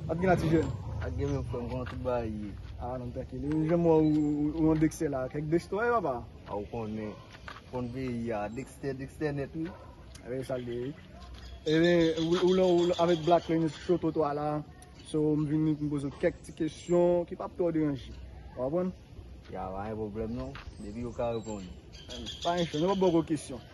Wap gen la ti jèn? Wap gen menm frèm kòman tout bagay ye? Ah nonm trankil. Ou janm wè ou yon Dexter la kèk Dexter ou ye papa? Ah ou konnen. Konn peyi a. Dexter Dexter nèt wi. Ebyen se sak gen wi. Ebyen ou la ou avèk Black lè nou sou twotwa la. So m vin pou m poze ou kèk ti kesyon ki pap twò deranje. Ou konprann? Ya pa gen pwoblèm non. Depi ou ka reponn. Pa gen chè. Nou pap bò gwo kesyon.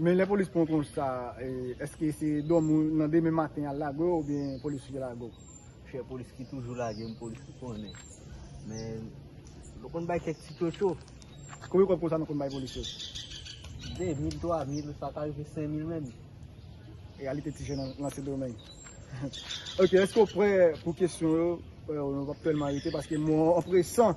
Men lè polis pran w konsa eske se dòmi w nan demen maten yal lage w oubyen polis ki lage w? Chè polis ki toujou lage m polis ki konnen men nou konn bay kèk ti tchotcho. Konbyen kòb konsa nou konn bay polis yo? 2 mil, 3 mil, sa ka rive 5 mil menm. Reyalite ti jèn nan sendomeng. Ok eske w prè pou kesyon yo, nou pap tèlman rete paske mwen an presan.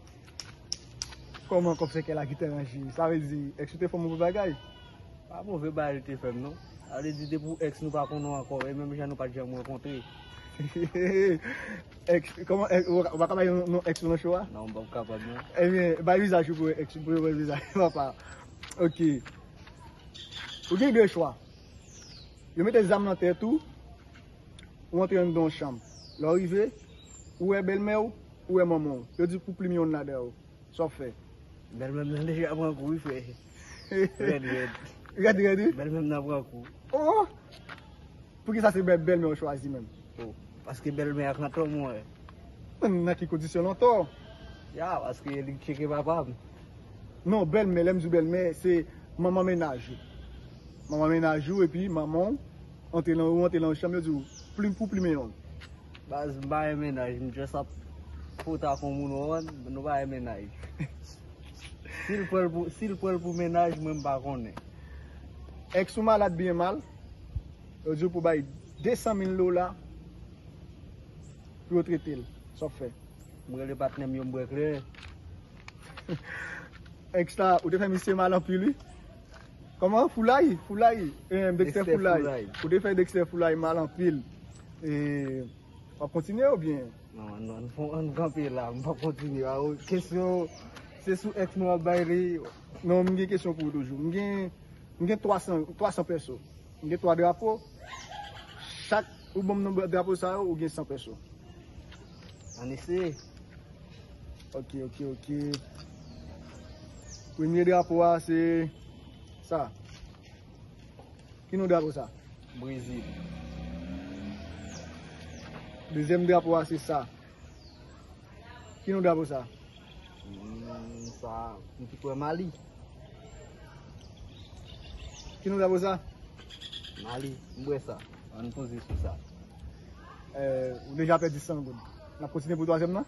Koman kòb sèkè la kite ranje? Sa vle di ex ou te fè move bagay? Pa move bagay li te fè m non. Sa vle di depi w ex nou pa konn nou ankò e menm jan nou pat janm rankontre. Ex, koman ex, ou pa ka bay non ex ou nan show a? Non m pap kapab non. Ebyen bay vizaj ou pou yo ex ou, pou yo wè vizaj ou papa. Ok. Ou gen 2 chwa. Yo mete zam nan tèt ou, ou antre anndan yon chanm. Lè w rive, ou wè bèlmè w, ou wè manman w. Yo di k pou plim yonn ladan yo. Sa w fè? Bèlmè m nan deja pran kou wi frè. Rèd rèd. Rèd rèd wi? Bèlmè m nan pran kou. O! Poukisa se bèlmè w chwazi menm? O! Paske bèlmè a kanntò m wè. An! Nan ki kondisyon l antò? Ya! Paske li tcheke papa m. Non, bèlmè, lè m di w bèlmè, se manman menaj ou. Manman menaj ou epi manman w. Antre lan ou antre lan yon chanm yo di ou plim pou plimen yon. Baz m pa gen mennaj m just ap pote ak yon moun ou konprann nou pa gen mennaj si l pran l pou si l pran l pou mennaj mwen m pa konnen. Ex ou malad byen mal yo di ou pou bay 200 mil dola pou yo trete l sa w ap fè. M rele patnè m yo m bwè kleren. Ex la ou te fè misye mal anpil wi. Kòman foulay foulay eeh Dexter foulay ou te fè Dexter foulay mal anpil eeh wap kontinye oubyen? Non ann kanpe la m pap kontinye a ou kesyon se sou ex mwen wap bay li non m gen kesyon pou ou toujou m gen 300 pèso m gen 3 drapo chak ou banm nonb drapo sa yo ou gen 100 pèso ann eseye. Ok ok ok. Premye drapo a se sa. Ki nou drapo sa? Brezil. Dezyèm drapo a se sa. Ki nou drapo sa? Hmm, sa. Nou ki kwe Mali. Ki nou drapo sa? Mali. Mbre sa. An nou poze sou sa. Ou deja pedi 100 goud. N ap kontine pou 3 zèm nan?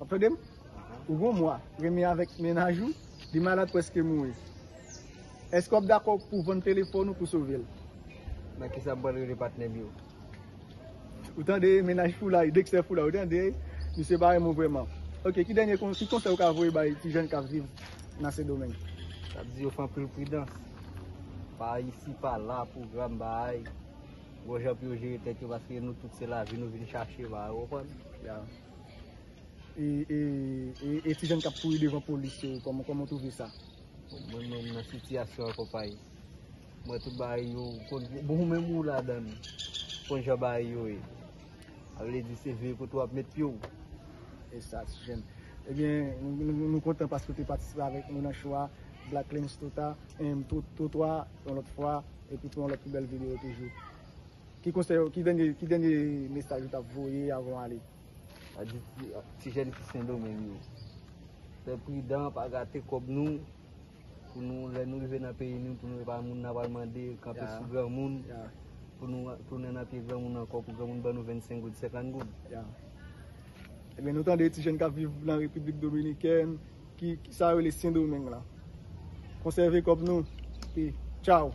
Wap tande m? Ou gon mwa, renmen avèk mennaj ou, li malad prèske mouri. Èske wap dakò pou vann telefòn ou pou sove l? Nan kisa m pral rele patnè m yo? Ou tande mennaj Foulay, Dexter Foulay, ou tande? Misye pa renmen w vrèman. Ok, ki dènye konsèy, ki konsèy ou ka voye bay ti jèn kap viv nan Sendomeng? Map di yo fè anpil pridans, pa isi pa la, pwogram bay, bon jan pou yo jere tèt yo paske nou tout se lavi nou vin chache, ou konprann? e ti jèn kap kouri devan polis yo kòman ou twouve sa? Mwen menm nan sitiyasyon an konpayi m wè tout bagay yo bon ou menm ou ladann ou konn jan bagay yo ye sa vle di se veye kote wap met pye w. Esa ti jèn ebyen nou kontan paske ou te patisipe avèk nou nan show a Black Lens Trotwa yon lòt fwa epi pou yon lòt pi bèl videyo toujou. Ki konsèy ou, ki dènye, ki dènye mesaj ou tap voye avan w ale? Mwen di ti, ti jèn ki sendomeng yo, fè pridan pa gate kòb nou, pou nou lè nou rive nan peyi nou pou nou epa moun nap al mande kanpe sou granmoun, pou nou tounen nan pye granmoun ankò pou granmoun ban nou 25 goud, 50 goud. Ya. Ebyen nou tande ti jèn kap viv nan repiblik dominikèn, ki sa yo rele sendomeng la. Konsève kòb nou, e tchaw.